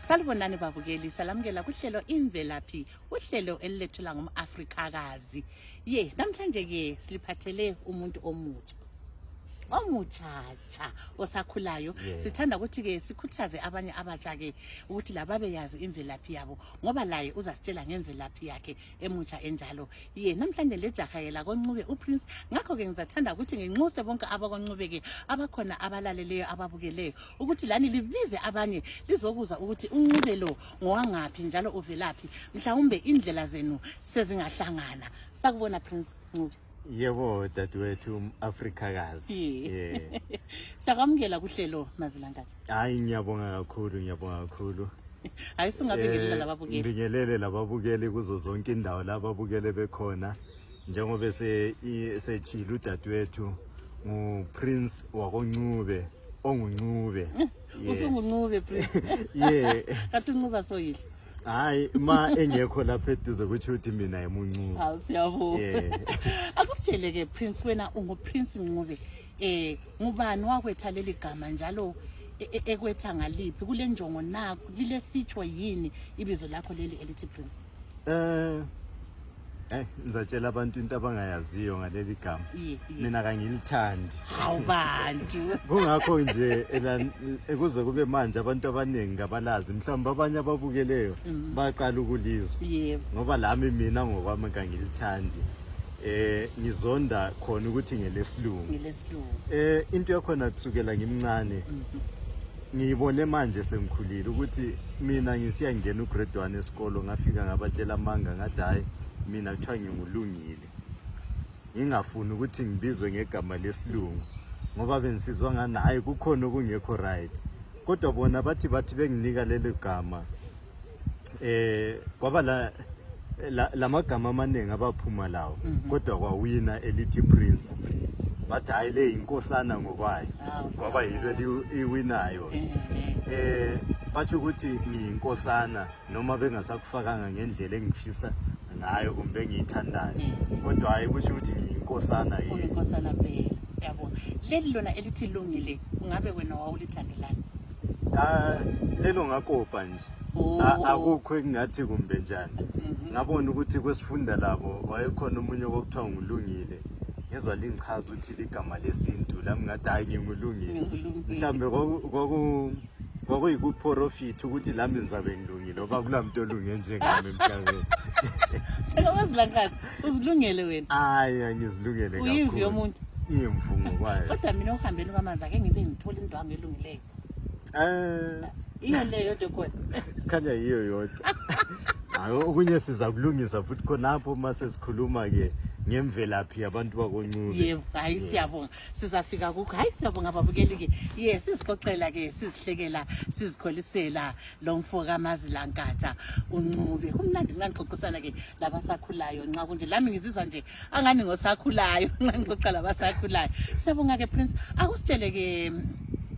Salibonani babukeli, salamukela kuhlelo imvelaphi, uhlelo elilethela ngumAfrikakazi. Ye, namhlanje ke siliphathele umuntu omutsha. Omutshatsha osakhulayo. Yeah. Sithanda ukuthi ke sikhuthaze abanye abatsha ke ukuthi lababeyazi imvelaphi yabo ngoba laye uzasitshela ngemvelaphi yakhe. emutsha enjalo ye namhlanje lejaha yela koncube uprince ngakho-ke ngizathanda ukuthi nginxuse bonke abakoncube-ke abakhona abalaleleyo ababukeleyo ukuthi lani libize abanye lizokuza ukuthi uncube lo ngowangaphi njalo uvelaphi mhlawumbe indlela zenu sezingahlangana sakubona prince ncube yebo dadewethu afrikakazi yeah. siyakwamukela kuhlelo mazilankathi hayi ngiyabonga kakhulu ngiyabonga kakhulu hayi singabingelela eh, lababukeli ngibingelele lababukeli kuzo zonke indawo lababukele bekhona njengoba sethile udadewethu nguprince wakoncube onguncube usunguncube prince ye kati uncuba soyihle hayi ma engekho lapha eduze kutsho ukuthi mina yimuncubi hawu siyabonga Yeah. akusitsheleke prince wena unguprince ncube eh ngubani wakwetha leli gama njalo e- e- ekwetha ngaliphi kule njongo naku lilesitsho yini ibizo lakho leli elithi prince Eh, Eh, ngizatshela abantu into abangayaziyo ngaleli gama mina kangilithandi hawu bantu kungakho nje kuze kube manje abantu abaningi ngabalazi mhlawumbi abanye ababukeleyo mm. baqala ukulizwa ngoba lami mina ngokwami kangilithandi eh ngizonda khona ukuthi ngelesilungu eh into yakhona kusukela ngimncane mm-hmm. ngibone manje sengikhulile ukuthi mina ngisiya ngena ugrade one esikolo ngafika ngabatshela amanga ngathi hhayi mina kuthiwa ngingulungile ngingafuni ukuthi ngibizwe ngegama lesilungu ngoba bengisizwa ngani hhayi kukhona okungekho right kodwa bona bathi bathi benginika leli gama eh kwaba la la- lamagama amaningi abaphuma lawo kodwa kwawina elithi prince bathi hayi le yinkosana ngokwayo Hawu, kwaba yilo eli- iwinayo Eh, eh. eh bathi ukuthi ngiyinkosana noma bengasakufakanga ngendlela engifisa ngayo kumbe engiyithandayo Mm. kodwa hayi kusho ukuthi ngiyinkosana yini Unenkosana mpela. Siyabonga. Leli lona elithi lungile, ungabe wena wawulithandelani? Ah, lelo ngakopa nje Oh. A- akukho engingathi kumbe njani Mhm. ngabona ukuthi kwesifunda labo wayekhona omunye okuthiwa ngulungile ngezwa lingichaza ukuthi ligama lesintu lami ngathi hayi ngingulungile Ngingulungile. mhlawumbe kwaku- kwaku- kwakuyikuprofitha ukuthi lami ngizabe ngilungile oba kula mntu olunge njengami emhlabeni Phela wazilangazi Uzilungele wena. Hayi angizilungele kakhulu. Uyimvu yomuntu. Imvu ngokwayo. Kodwa mina uhambeni kwamanzi ake ngibe ngithola into wami elungileyo. Eh. Iyo leyo yodwa khona. Khanya yiyo yodwa. Hayi okunye siza kulungisa futhi khonapho uma sesikhuluma ke ngemvelaphi yabantu bakoncube yebo hayi siyabonga sizafika kukho hayi siyabonga babukeli ke yes sizixoxela ke sizihlekela sizikholisela lo mfo kamazilankatha uncube kumnandi nxa ngixoxisana ke labasakhulayo nxa kunje lami ngizizwa nje angani ngosakhulayo nxa ngixoxa labasakhulayo siyabonga ke prince akusitshele ke um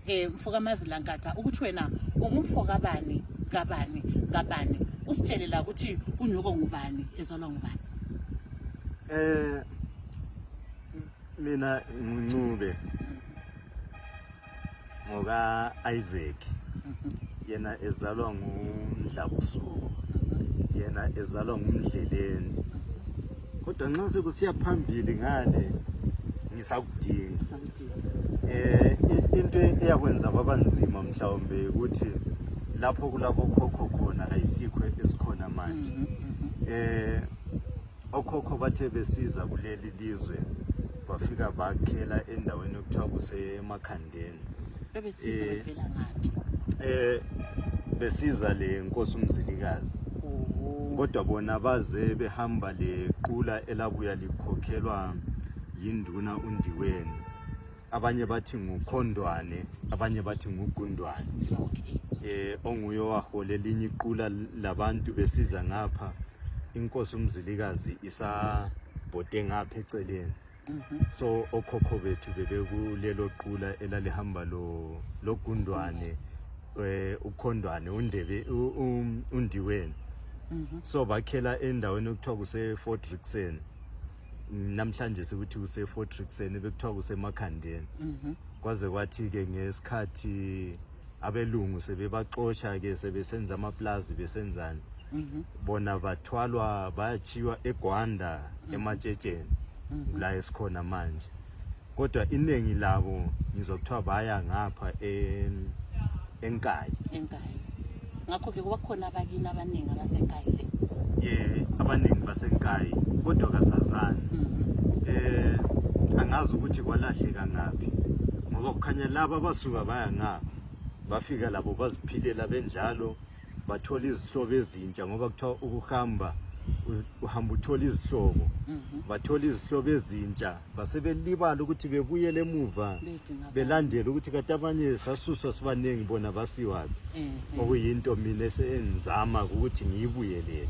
eh, mfo kamazilankatha ukuthi wena ungumfo kabani kabani kabani usitshele la ukuthi unyoko ngubani ezolwa ngubani um mina nguncube ngoka Isaac yena ezalwa ngumdlabusuku yena ezalwa ngumdleleni kodwa nxa sekusiya phambili ngale ngisakudinga eh into eyakwenza kwaba nzima mhlawumbe ukuthi lapho kulabo khokho khona ayisikho esikhona manje mm-hmm, mm-hmm. eh Okhokho bathe besiza kuleli lizwe bafika bakhela endaweni okuthiwa kusemakhandeni bebesiza Eh. bevela ngaphi eh besiza le nkosi umzilikazi Oho. kodwa bona baze behamba lequla elabuya likhokhelwa yinduna undiweni abanye bathi ngukhondwane abanye bathi ngugundwane okay. eh onguye owahole linye iqula labantu besiza ngapha inkosi umzilikazi isabhode ngapha eceleni mhm. so okhokho bethu bebekulelo qula elalihamba lo logundwane eh ukhondwane undebe um, undiweni mhm. so bakhela endaweni okuthiwa kuse Fort Rixen namhlanje sikuthi kusefortrixen bekuthiwa kusemakhandeni mhm. kwaze kwathi-ke ngesikhathi abelungu sebebaxosha-ke sebesenza amaplazi besenzani mhm. bona bathwalwa bayachiywa egwanda mhm. ematshetsheni la esikhona manje kodwa iningi labo ngizwa kuthiwa baya ngapha en- enkayi enkayi ngakho ke kuba khona abakini abaningi abasenkayi le ye abaningi basenkayi kodwa kasazani Mhm. eh angazi ukuthi kwalahleka ngaphi ngoba kukhanya laba abasuka baya ngapha bafika labo baziphilela benjalo bathola izihlobo ezintsha ngoba kuthiwa ukuhamba uhamba uthola izihlobo mhm. bathola izihlobo ezintsha basebelibala ukuthi bebuyele emuva belandele ukuthi kati abanye sasuswa sibaningi bona basiwaphi eh, eh. okuyinto mina esenzama ukuthi ngiyibuyelele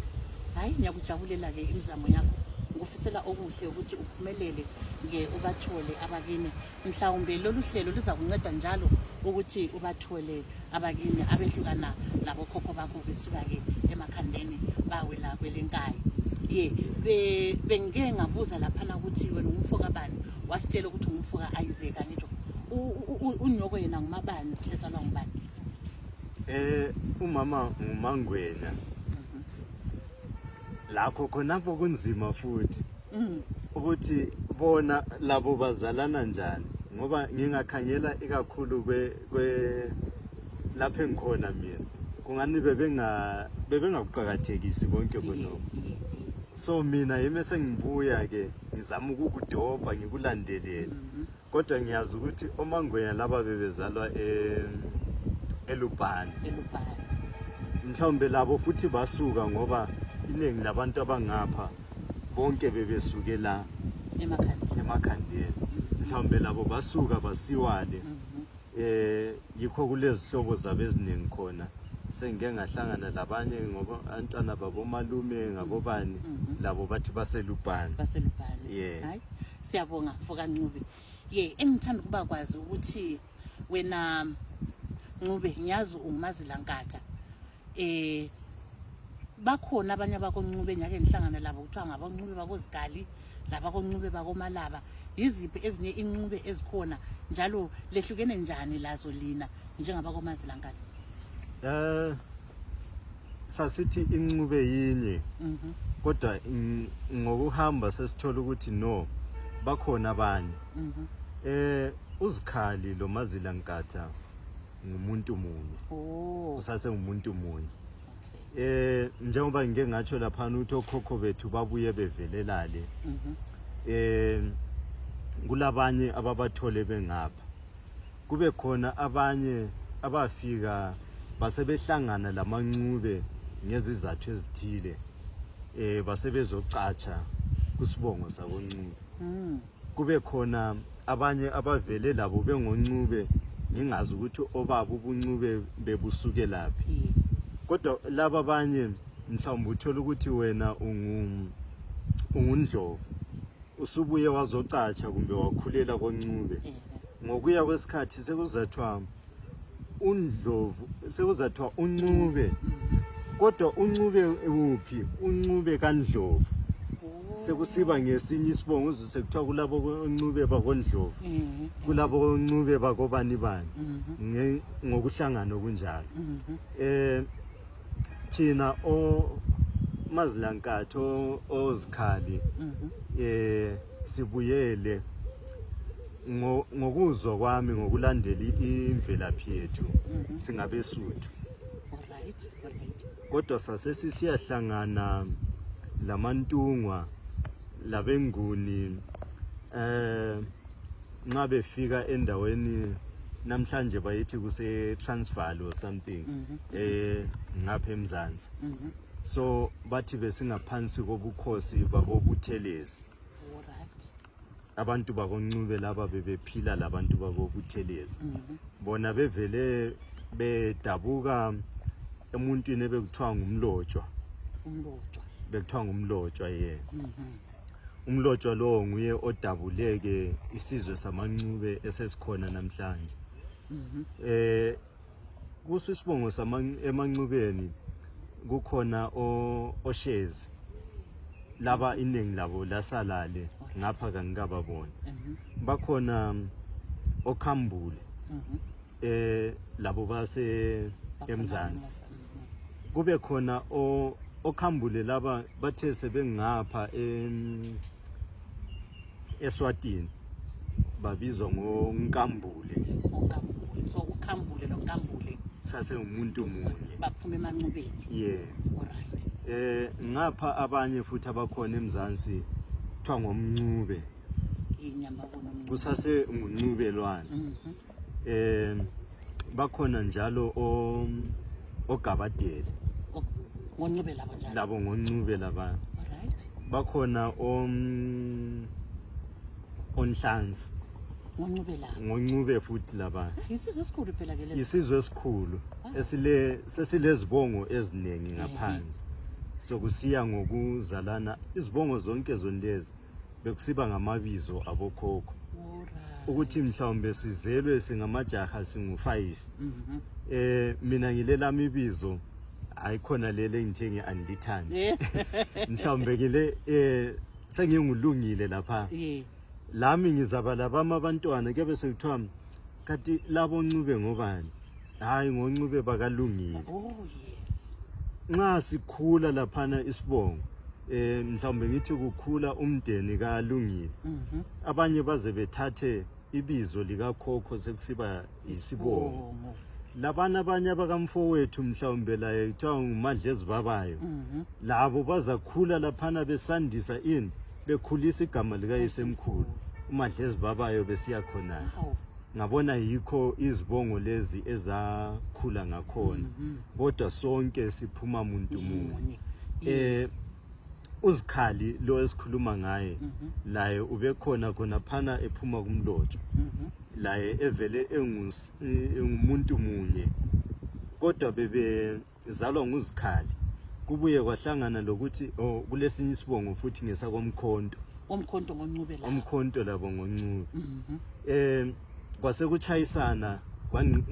hayi ngiyakujabulela-ke imizamo yakho ngikufisela okuhle ukuthi uphumelele-ke ubathole abakini mhlawumbe lolu hlelo luzakunceda njalo ukuthi ubathole abakini abehlukana labokhokho bakho besuka-ke emakhandeni bawela kwelenkayi ye bengike ngabuza laphana ukuthi wena ungumfo kabani wasitshela ukuthi ungumfo ka-isaka ngitsho unyoko yena ngumabani lezalwa ngubani eh umama ngumangwena mhm. lakho khonapho kunzima futhi mm. ukuthi bona labo bazalana njani ngoba ngingakhangela ikakhulu kwe, kwe lapho engikhona mina kungani bebenga bebengakuqakathekisi konke khonoko so mina yimi esengibuya ke ngizama ukukudobha ngikulandelele mm -hmm. kodwa ngiyazi ukuthi omangwenya laba bebezalwa e, elubhani mhlawumbe labo futhi basuka ngoba iningi labantu abangapha bonke bebesuke la emakhandeni mhlawumbe labo basuka basiwale um yikho kulezihlobo zabo eziningi khona sengike ngahlangana labanye ngoba abantwana babomalume ngabobani labo bathi baselubhani yeah Siyabonga mfoka Ncube. Ye engithanda ukuba kwazi ukuthi wena Ncube ngiyazi ungumazilankatha. Eh bakhona abanye abakoNcube ngiyake ngihlangana labo kuthiwa ngaboNcube bakoZigali labakoNcube bakoMalaba. Yiziphi ezinye inqube ezikhona njalo lehlukene njani lazo lina njengabakomazilankatha? Eh sasithi incube yinye mhm. kodwa ngokuhamba sesithola ukuthi no bakhona abanye mhm. eh uzikhali lo mazila nkatha ngumuntu munye oh. usase ngumuntu munye eh njengoba ngike ngatsho lapha ukuthi okhokho bethu babuye bevelelale mhm. eh kulabanye ababathole bengapha kube khona abanye abafika basebehlangana lamancube ngezizathu ezithile eh basebezocatsha kusibongo sakoncube mm. kube khona abanye abavele labo bengoncube ngingazi ukuthi obaba ubuncube bebusuke laphi yeah. kodwa laba abanye mhlawumbe uthola ukuthi wena ungu ungundlovu usubuye wazocatsha kumbe wakhulela koncube yeah. ngokuya kwesikhathi sekuzathiwa undlovu sekuzathiwa uncube kodwa uncube uphi uncube kandlovu sekusiba ngesinye isibongo uzwe sekuthiwa kulabo oncube bakondlovu mhm. kulabo oncube bakobani bani mhm. ngokuhlangana okunjalo um mhm. eh, thina omazilankathi ozikhali um eh, sibuyele ngokuzwa kwami ngokulandela imvelaphi yethu mhm. singabesuthu kodwa sasesisiyahlangana lamantungwa labenguni eh nxa befika endaweni namhlanje bayithi kuse transfer or something mhm. eh ngapha emzansi mhm. so bathi besingaphansi kobukhosi babobuthelezi abantu bakoncube laba bebephila labantu bakobuthelezi mhm. bona bevele bedabuka emuntwini ebekuthiwa ngumlotshwa bekuthiwa ngumlotshwa ye mhm. umlotshwa lowo nguye odabuleke isizwe samancube esesikhona namhlanje um kuso isibongo emancubeni kukhona oshezi laba iningi labo lasalale ngapha kangikababoni mhm. bakhona mm, okhambule mhm. eh labo base emzansi mhm. kube khona okhambule laba bathe sebengapha eswatini babizwa ngonkambule so ukhambule lonkambule sasengumuntu munye baphuma emancubeni yeah alright eh ngapha abanye futhi abakhona emzansi kuthiwa ngomncube inyama kunomncube kusase nguncubelwane mm -hmm. eh bakhona njalo o ogabadeli O- ngoncube labo njalo labo ngoncube laba Alright. bakhona om onhlanzi ngoncube labo ngoncube futhi laba yisizwe esikhulu phela ke lesi isizwe esikhulu esile sesilezibongo eziningi ngaphansi sokusiya ngokuzalana izibongo zonke zonlezi bekusiba ngamabizo abokhokho ukuthi mhlawumbe sizelwe singamajaha singu-5 um mhm. eh, mina ngilelami ibizo ayikhona lele ngithe ngi-andithani mhlawumbe ngile um sengingulungile lapha lami ngizaba labami abantwana kuyabe sekuthiwa kanti labo ncube ngobani hayi ngoncube bakalungile oh yes nxa sikhula laphana isibongo eh mhlawumbe ngithi kukhula umndeni kalungile mhm. abanye baze bethathe ibizo likakhokho sekusiba yisibongo labana abanye abakamfowethu mhlawumbe laye kuthiwa ngumadla ezibabayo mhm. labo bazakhula laphana besandisa ini bekhulisa igama likayisemkhulu umadlezi babayo besiya khonana ngabona yikho izibongo lezi ezakhula ngakhona mm-hmm. kodwa sonke siphuma muntu munye eh uzikhali lo esikhuluma ngaye mm-hmm. laye ubekhona khona phana ephuma kumlotshwa mm-hmm. laye evele engumuntu munye kodwa bebe izalwa nguzikhali kubuye kwahlangana lokuthi oh, kulesinye isibongo futhi ngesakomkhonto omkhonto ngoncube la omkhonto labo ngoncube mhm. eh kwasekuchayisana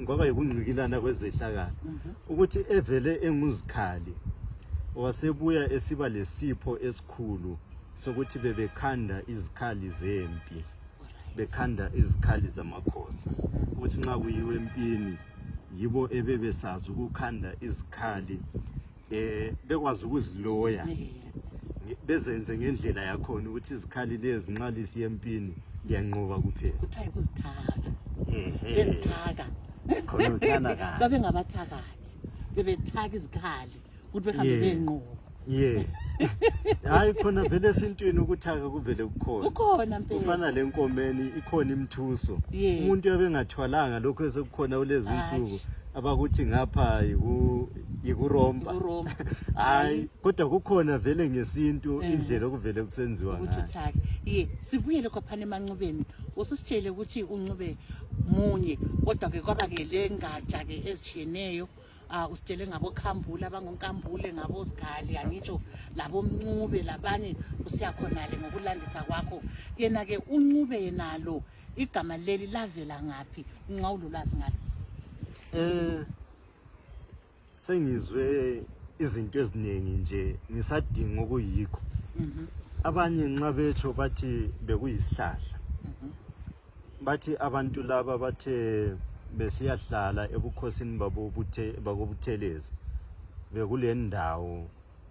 ngoba yikungcikilana kwezehlakala mhm. ukuthi evele enguzikhali wasebuya esiba lesipho esikhulu sokuthi bebekhanda izikhali zempi bekhanda izikhali zamakhosi ukuthi nxa kuyiwe empini yibo ebebesazi ukukhanda izikhali eh bekwazi ukuziloya bezenze ngendlela yakhona ukuthi izikhali lezi nxa lisiya empini liyanqoba kuphela kuthiwa yikuzithaka bezithaka khona uthana kabi babengabathakathi bebethaka izikhali ukuthi behambe Yeah. benqoba ye hayi khona vele esintwini ukuthaka kuvele kukhona ukhona mpela kufana le nkomeni ikhona imthuso Yeah. umuntu yabe engathwalanga lokho esekukhona kulezi Hatshi. nsuku abakuthi ngapha yiku- yikuromba Yikuromba. hayi kodwa kukhona vele ngesintu Eh. indlela okuvele kusenziwa ukuthi ngayo uthake ye sibuyele kwaphana emanxubeni ususitshele ukuthi unxube munye kodwa-ke kwaba-ke le ngatsha-ke ezitshiyeneyo uh, usitshele ngabokhambule abangonkambule ngabozigale angitsho labomncube labanye usiyakhonale ngokulandisa kwakho yena-ke uncube yenalo igama leli lavela ngaphi nxa ulolwazi ngalo um sengizwe izinto eziningi nje ngisadinga okuyikho mhm. abanye nxa betsho bathi bekuyisihlahla bathi abantu laba bathe besiyahlala ebukhosini babo buthe bakobuthelezi bekulendawo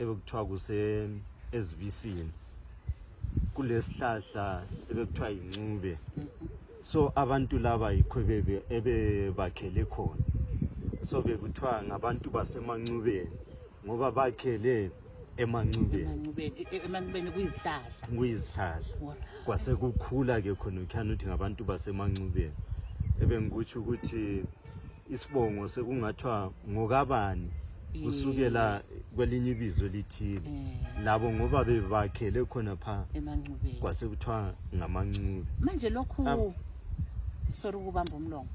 ebekuthiwa kuse ezibisini kulesihlahla ebekuthiwa yincube so abantu laba yikho bebe ebebakhele khona so bekuthiwa ngabantu basemancubeni ngoba bakhele emancubeni emancubeni kuyizihlahla kuyizihlahla kwase kukhula ke khona ukhana ukuthi ngabantu basemancubeni ebengikutsho ukuthi isibongo sekungathiwa ngokabani kusukela kwelinye ibizo lithile eh. labo ngoba bebakhele khona pha emancubeni kwase kuthiwa ngamancube manje lokhu sorry ukubamba umlomo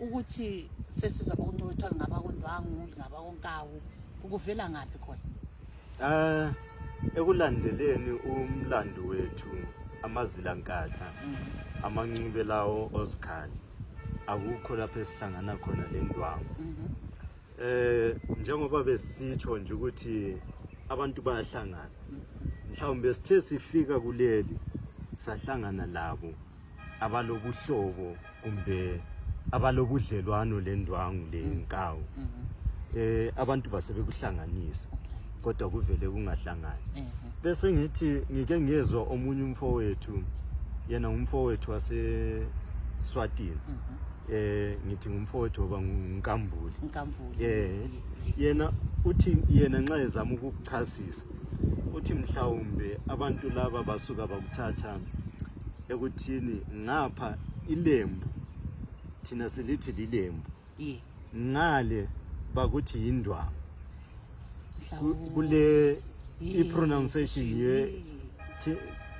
ukuthi sesiza kokuncothwa ngabakondwangu ngabakonkawu ukuvela ngaphi khona eh ekulandeleni umlando wethu amazila nkatha mm. amanxibe lawo ozikhali akukho lapho esihlangana khona le ndwangu mm-hmm. eh njengoba besitsho nje ukuthi abantu bayahlangana mm-hmm. mhlawumbe sithe sifika kuleli sahlangana labo abalobuhlobo kumbe abalobudlelwano lendwangu lenkawu mm -hmm. eh abantu basebekuhlanganisa kodwa kuvele kungahlangani mm -hmm. bese ngithi ngike ngezwa omunye umfowethu yena umfowethu wase Swatini mm -hmm. eh ngithi umfowethu oba ngunkambuli nkambuli eh yena uthi yena nxa ezama ukuchasisa uthi mhlawumbe abantu laba basuka bakuthatha ekuthini ngapha ilembu thina silithi lilembu yeah. ngale bakuthi yindwangu kule i-pronunciation ye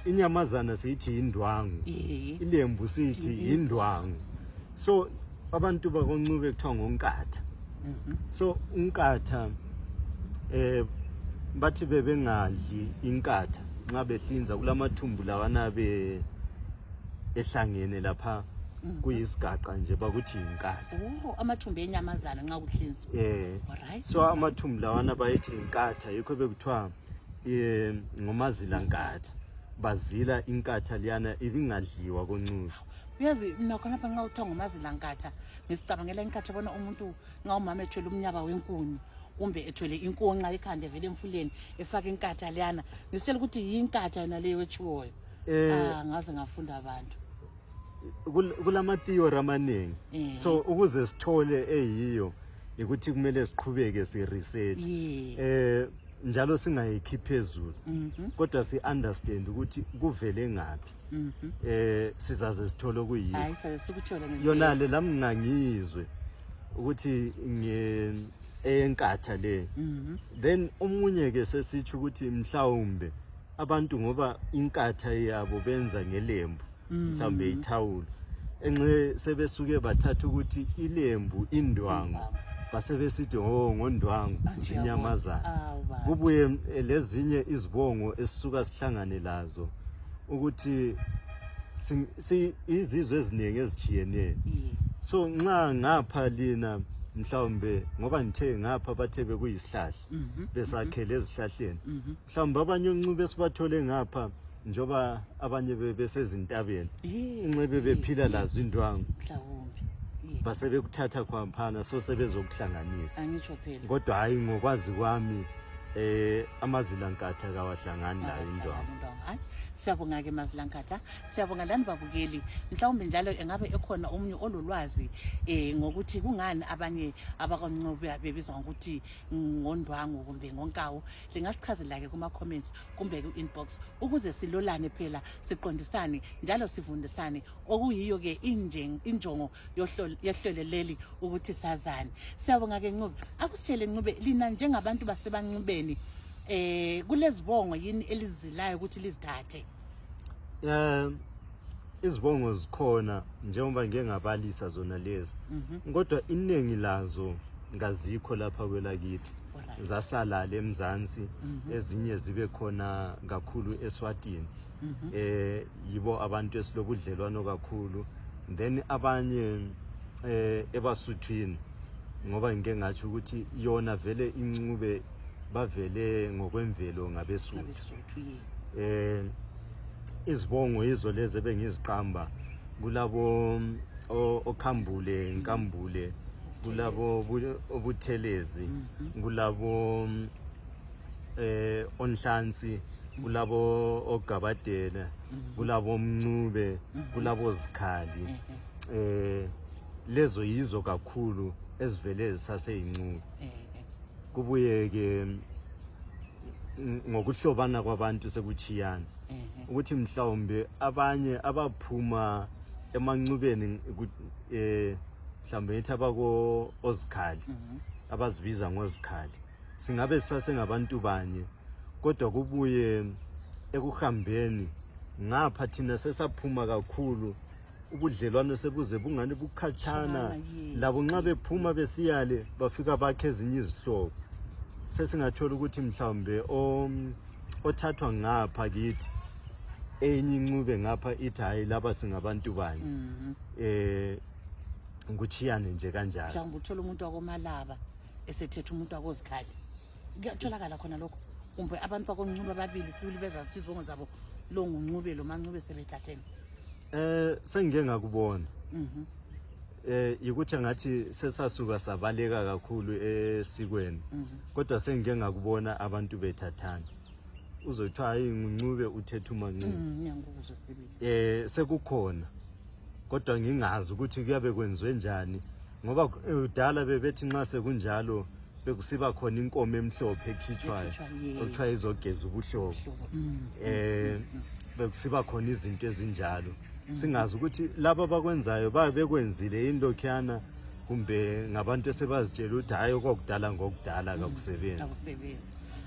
inyamazana siyithi yindwangu ilembu siyithi yindwangu so abantu bakoncube kuthiwa ngonkatha mhm. so unkatha eh bathi bebengadli inkatha nxa behlinza kulamathumbu lawana be ehlangene lapha mhm. kuyisigaqa nje bakuthi yinkatha oh, amathumbu enyamazana nxa kuhlinzwa eh so amathumbu lawana bayethi yinkatha yikho bekuthiwa eh, ngomazilankatha bazila inkatha liyana ibingadliwa koncuba uyazi mna khonapha nxa kuthiwa ngumazilankatha ngisicabangela inkatha bona umuntu nxa umama ethwele umnyaba wenkuni kumbe ethwele inkonxa ekhanda evele emfuleni efake inkatha leyana ngisitshela ukuthi yinkatha yona leyo etshiwoyo eh, ah, ngaze ngafunda abantu kulamathiyori amaningi eh. so ukuze sithole eyiyo yikuthi kumele siqhubeke si-research um eh, njalo singayikhi phezulu mhm. kodwa si-understand ukuthi kuvele ngaphi Mhm. eh sizaze sithole okuyini Hayi saze sikuthole ngempela. yona le lami ngangizwe ukuthi nge enkatha le Mhm. then omunye ke sesitsho ukuthi mhlawumbe abantu ngoba inkatha yabo benza ngelembu mhlawumbe ithawulo enxe sebesuke bathatha ukuthi ilembu indwangu basebesithi ho ngondwangu Athi zinyamazana yabona. Awu, baba. kubuye eh, lezinye izibongo esisuka sihlangane lazo ukuthi izizwe eziningi ezitshiyeneyo so nxa ngapha lina mhlawumbe ngoba ngithe ngapha bathe bekuyisihlahla mhm. besakhele mhm. ezihlahleni mhm. mhlawumbe abanye uncuba esibathole ngapha njengoba abanye besezintabeni unxebe bephila lazo indwangu basebekuthatha khwaphana so sebezokuhlanganisa kodwa hhayi ngokwazi kwami Eh amazilankatha kawahlangani la indwangu. Hayi siyabonga ke mazilankatha. Siyabonga lani babukeli. Mhlawumbe njalo engabe ekhona omunye ololwazi eh ngokuthi kungani abanye abakoncobe bebizwa ngokuthi ngondwangu kumbe ngonkawu. Lingasichazela ke kuma comments kumbe ku inbox ukuze silolane phela siqondisane njalo sivundisane okuyiyo ke injongo yehlelo leli ukuthi sazane siyabonga ke ncube akusitshele ncube lina njengabantu basebancubeni eh kulezibongo yini elizilayo ukuthi lizithathe um izibongo zikhona njengoba ngike ngabalisa zona lezi mhm. kodwa iningi lazo ngazikho lapha kwelakithi zasalala emzansi mhm. ezinye zibe khona kakhulu eswatini mhm. eh yibo abantu esilobudlelwano kakhulu then abanye eh ebasuthwini ngoba ngike ngathi ukuthi yona vele incube bavele ngokwemvelo ngabesuthu eh izibongo izo lezi bengiziqamba kulabo okhambule nkambule kulabo obuthelezi mhm. kulabo eh onhlansi kulabo ogabadela mhm. kulabo mncube mhm. kulabo zikhali eh lezo yizo kakhulu ezivele zisaseyincuku kubuye ke ngokuhlobana kwabantu sekuchiyana ukuthi mhlawumbe abanye abaphuma emancubeni eh mhlawumbe ngithi abako ozikhali mhm. abazibiza ngozikhali singabe sasengabantu banye kodwa kubuye ekuhambeni ngapha thina sesaphuma kakhulu ubudlelwano sebuze bungani bukhatshana labo nxa bephuma besiyale bafika bakhe ezinye izihlobo sesingathola ukuthi mhlawumbe othathwa ngapha kithi enye incube ngapha ithi hhayi laba singabantu banye um mhm. eh, kuchiyane nje kanjalo mhlawumbe uthole umuntu wakomalaba esethetha umuntu wakozikhali kuyatholakala khona lokho kumbe abantu bakoncuba ababili sibili bezazi izibongo zabo lo nguncube lo mancube sebethatheni eh sengike ngakubona mhm eh yikuthi ngathi sesasuka sabaleka kakhulu esikweni mhm. kodwa sengike ngakubona abantu bethathana uzothiwa hayi nguncube uthetha umancube mm, ngiyangikuzwa sibili eh sekukhona kodwa ngingazi ukuthi kuyabe kwenziwe njani ngoba eh, kudala bebethi nxa sekunjalo bekusiba khona inkomo emhlophe ekhitshwayo okuthiwa izogeza ubuhlobo um bekusiba khona izinto ezinjalo mm. singazi ukuthi laba abakwenzayo babe bekwenzile yini lokhuyana kumbe ngabantu esebazitshela ukuthi hhayi okwakudala ngokudala mm. kakusebenzi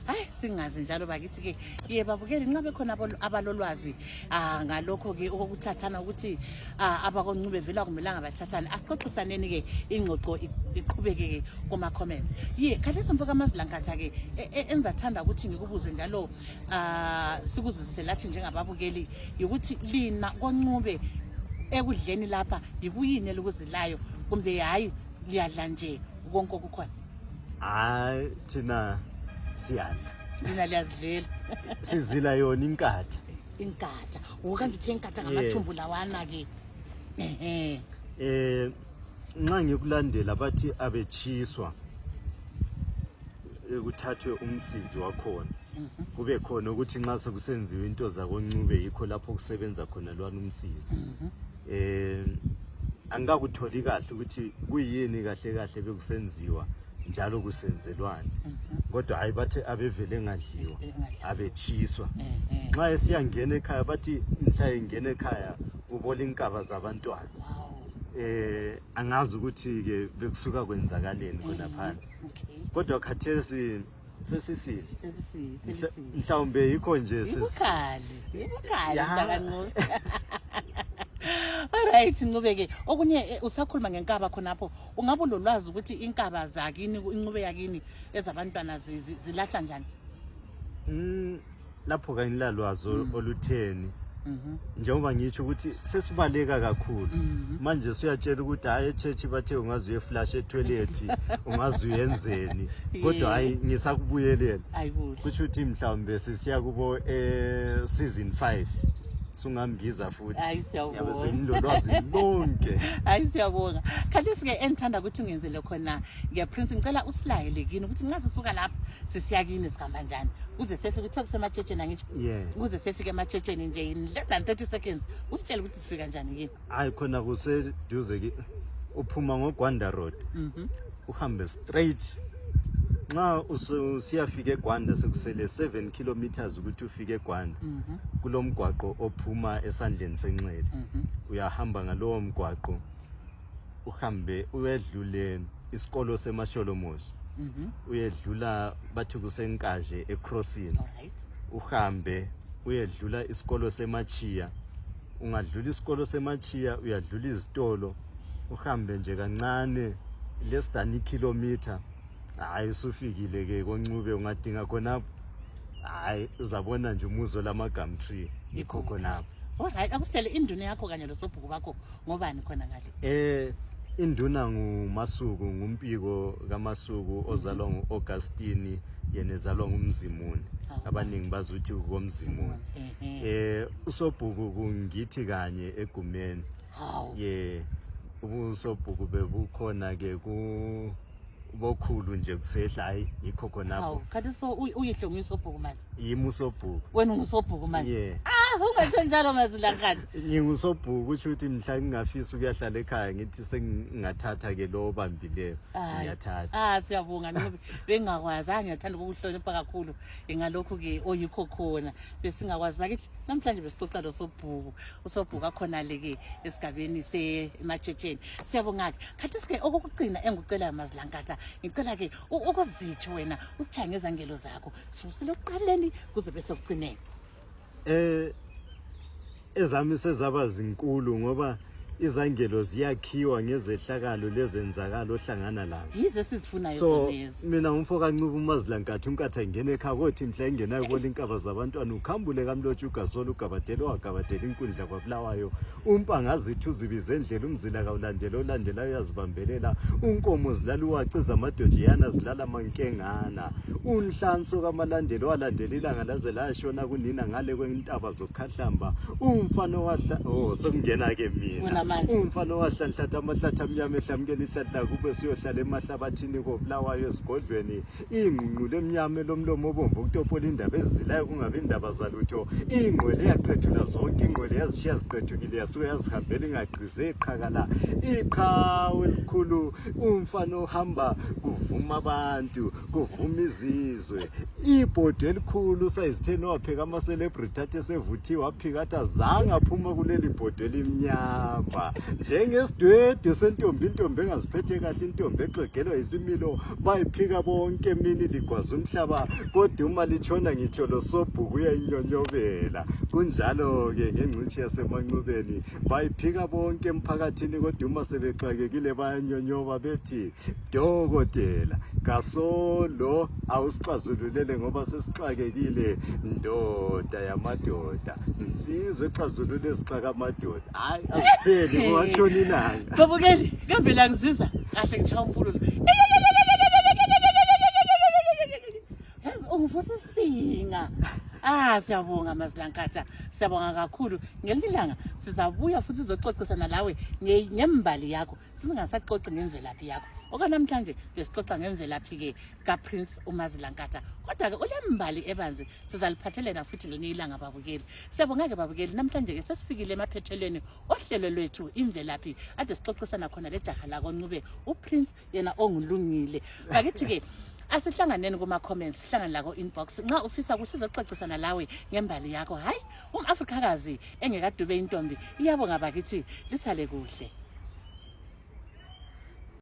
hayi singazi njalo bakithi-ke ye babukeli nxa bekhona abalolwazi um ngalokho-ke okokuthathana ukuthi um abakoncube vela kumelanga bathathane asixoxisaneni-ke ingxoxo iqhubeke-ke kuma-comments ye khathesi mfo kamazilankatha-ke e, e, enzathanda ukuthi ngikubuze njalo um sikuzuzise lathi njengababukeli yikuthi lina koncube ekudleni lapha yikuyini elikuzilayo kumbe hhayi liyadla nje konke okukhona hayi thina siyadla nina liyazidlela sizila yona inkatha inkatha wokanti uthe inkatha ngamathumbu lawana ke ehe eh nxa ngikulandela bathi abetshiswa eh, kuthathwe umsizi wakhona mhm. kube khona ukuthi nxa sekusenziwa into zakoncube yikho lapho kusebenza khona lwana umsizi mhm. eh angikakutholi kahle ukuthi kuyini kahle kahle bekusenziwa njalo kusenzelwani mhm. kodwa hayi bathi abevele engadliwa abetshiswa eh, eh. nxa esiyangena ekhaya bathi mhla engena ekhaya ubola inkaba zabantwana eh angazi ukuthi ke bekusuka kwenzakaleni khona eh, phandle kodwa khathesi sesisile mhlawumbe yikho nje Alright Ncube ke okunye eh, usakhuluma ngenkaba khonapho ungabe ulolwazi ukuthi inkaba zakini incube yakini ezabantwana zilahla njani mm. lapho kangilalwazi mm. olutheni mhm. njengoba ngitsho ukuthi sesibaleka kakhulu mhm. manje suyatshela ukuthi hayi echurch bathe ungaze uyeflash etoilethi ungaze uyenzeni kodwa hayi ngisakubuyelela kusho ukuthi mhlawumbe sisiya kubo um season five sungambiza futhi hayi siyabonga senilolwazi lonke hayi siyabonga khathi sike engithanda ukuthi ungenzele khona ngiya prince ngicela usilayele kini ukuthi nxa sisuka lapha sisiya kini hamba njani kuze sefike uthiwa kusematshetshen angitsho kuze sefike ematshetsheni nje in less than thirty seconds usitshele ukuthi sifika njani kini hayi khona kuseduze ke uphuma ngogwanda road mhm. uhambe straight nxa usiyafika egwanda sekusele 7 kilometers ukuthi ufike egwanda mhm. kulo mgwaqo ophuma esandleni senxele mhm. uyahamba ngalowo mgwaqo uhambe uyedluleni isikolo semasholomoshi mhm. uyedlula bathi kusenkaje ecrossini uhambe uyedlula isikolo semachiya ungadlula isikolo semachiya uyadlula izitolo uhambe nje kancane less than ikhilomitha hhayi usufikile ke koncube ungadinga khonapho hhayi uzabona nje umuzo lamagum tree yikho khonapho olright akusitshele induna yakho kanye losobhuku bakho ngobani khona ngale eh induna ngumasuku ngumpiko kamasuku ozalwa ngu-augustini yena ezalwa ngumzimuni abaningi bazuthi komzimuni eh usobhuku kungithi kanye egumeni ye ubusobhuku bebukhona ke ku bokhulu nje kusehla hayi yikho khonapho khathi so uyihlonga isobhuku manje yimi usobhuku wena ungusobhuku manje yeah ah ungathi njalo mazilankathi ngingusobhuku kusho ukuthi mhla ngingafisa ukuyahlala ekhaya ngithi sengingathatha ke lo obambileyo ngiyathatha ah siyabonga ngoba bengakwazi angiyathanda ukukuhlonipha kakhulu ingalokhu ke oyikho khona besingakwazi bakithi namhlanje besixoxa lo sobhuku usobhuku akhona le ke esigabeni se ematshetsheni siyabonga ke khathi sike okokugcina engucela mazilankatha ngicela ke ukuzitsho wena usithangezangelo zakho susile ekuqaleni kuze bese kucineke eh ezami sezaba zinkulu ngoba izangelo ziyakhiwa ngezehlakalo lezenzakalo ohlangana lazo yize sizifunayo so mina umfo kancuba umazilankathi unkatha ingena ekhabothi mhla engenayo kola inkaba zabantwana ukhambule kamlotsha ugasolo ugabadele wagabadela inkundla kwabulawayo umpa ngazithi uzibize endlela umzila kawulandela olandelayo uyazibambelela unkomo zilala uwaciza amadojiyana zilala mankengana unhlanso kamalandela owalandela ilanga laze lashona kunina ngale kwentaba zokhahlamba umfana owahla oh sekungena-ke mina umfana owahlanhlatha amahlathi amnyama ehlamukela ihlahla kube siyohlala emahlabathini kobulawayo esigodlweni ingqungqulu emnyama elomlomo obomvu ukutopola indaba ezizilayo kungabi indaba zalutho ingqwele yaqethula zonke ingqwele yazishiya ziqethukile yasuke yazihambela ingagqize iqhakala iqhawe elikhulu umfana ohamba kuvuma abantu kuvuma izizwe ibhodwe elikhulu sayizitheni wapheka ama-celebrity athe sevuthiwe waphika athi azange aphuma kuleli bhodwe elimnyama njengesidwedwe sentombi intombi engaziphethe kahle intombi exegelwa yisimilo bayiphika bonke emini ligwaza umhlaba kodwa uma litshona ngitsho losobhuku uyayinyonyobela kunjalo-ke ngengcitshi yasemanxubeni bayiphika bonke emphakathini kodwa uma sebexakekile bayanyonyoba bethi dokotela kasolo awusixazululele ngoba sesixakekile ndoda yamadoda nsizwe exazulule ezixaka amadoda Hayi asipheli ngoshoni ilanga. Babukeli, kambe la ngisiza. Kahle ngitshaya umpululo. Yazi ungivusa isinga. Ah siyabonga Mazilankatsha. Siyabonga kakhulu. Ngelinye ilanga sizabuya futhi sizoxoxisana lawe nge- ngembali yakho. singasaxoxi ngemvelaphi yakho okanamhlanje besixoxa ngemvelaphi-ke kaprince umazilankatha kodwa-ke ulembali ebanzi sizaliphathelela futhi ngelinye ilanga babukeli siyabonga-ke babukeli namhlanje-ke sesifikile emaphethelweni ohlelo lwethu imvelaphi ade sixoxisana khona lejaha lakoncube uprince yena ongulungile bakithi-ke asihlanganeni kuma-comments sihlangane lako-inbox nxa ufisa kusizoxoxisana lawe ngembali yakho hhayi umafrikakazi engekadube intombi iyabonga bakithi lisale kuhle